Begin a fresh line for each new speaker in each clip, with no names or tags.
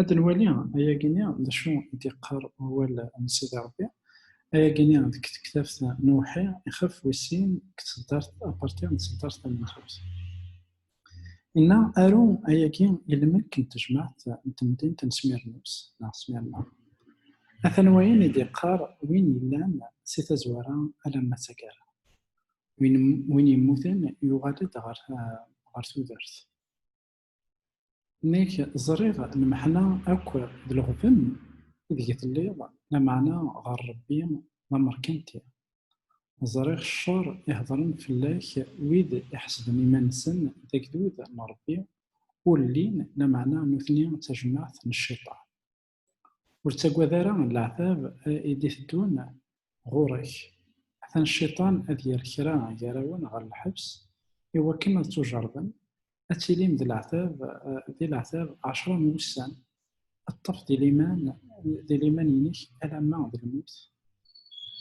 Ad nwali ayagi-nni d acu i d-yeqqar wawal n Sidi Rebbi. Ayagi-nni deg tektabt n uwḥi ixef wis sin deg tseddart apartir n tseddart tamenzut. Inna aru ayagi i lmelk n tejmaɛt n temdint n Smirnus neɣ Smirna. Atan wayen i d-yeqqar win yellan si tazwara alamma d taggara. Win yemmuten yuɣal-d ɣer tudert. Nek ẓriɣ lmeḥna akk d leɣben ideg telliḍ, lameɛna ɣer Rebbi d amerkanti. Ẓriɣ ccer i hedren fell-ak wid iḥesben iman-nsen d agdud n Rebbi, ur llin, lameɛna nutni d tajmaɛt n cciṭan. ur ttaggad ara leɛtab i d-iteddun ɣur-k atan cciṭan ad yerr kra gar-awen ɣer lḥebs i wakken ad tujerḍem ad tilim d leɛtab di leɛtab ɛecra n wussan ad ṭṭef di liman di liman-inek alamma d lmut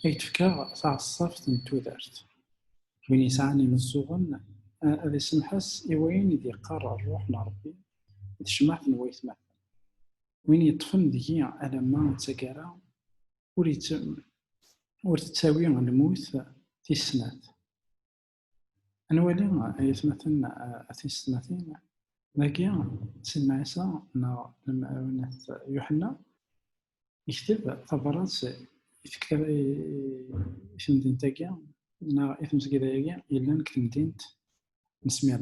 ay d-fkeɣ taɛeṣṣabt n tudert win yesɛan imeẓẓuɣen ad isemḥes i wayen i d-yeqqar ṛṛuḥ n Ṛebbi d tecmaɛt n waytmaten win yeṭṭfen deg-i alamma d taggara ur ur tettawi lmut tis snat ad nwali ay atmaten a tisetmatin dagi sidna ɛisa neɣ lemɛawnat yuḥenna yekteb tabrat i tektaba i temdint-agi neɣ i tmesgida-agi yellan deg temdint n smir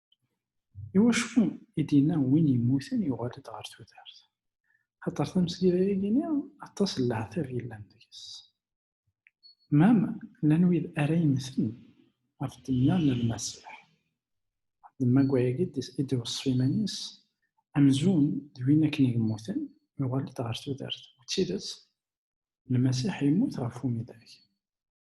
Iwacu i d-yenna win yemmuten yuɣal-d ɣer tudert? Xaṭer tamesgida-agi-ni aṭas n leɛtab yellan deg-s. Mam, llan wid ara yemmten ɣef ddemma n Lmasiḥ. Ddemma deg wayagi i d-iweṣṣef iman-is amzun d win akken i yemmuten yuɣal-d ɣer tudert. U d tidet, Lmasiḥ yemmut ɣef umidag.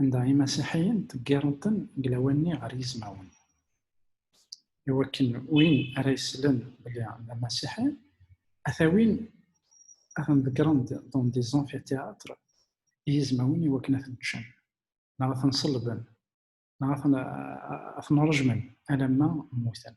anda imasiḥiyen ḍeggiren-ten deg lawan-nni ɣer yizmawen iwakken win ara yeslen belli d amasiḥi ata win ad ten-ḍeggren-d dans des amphithéâtres i yizmawen iwakken ad ten-ččen neɣ ad ten-ṣellben neɣ ad ten-rejmen alamma mmuten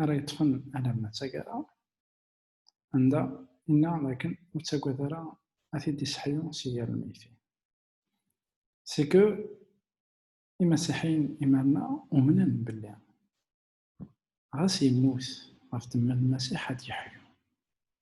ara yeṭṭfen alamma d tagara anda inna dakken ur ttagad ara ad t-id-iseḥyu si yal lmeyti c'est que imasiḥiyen imanna umnen belli ɣas yemmut ɣef temmel lmasiḥ ad yeḥyu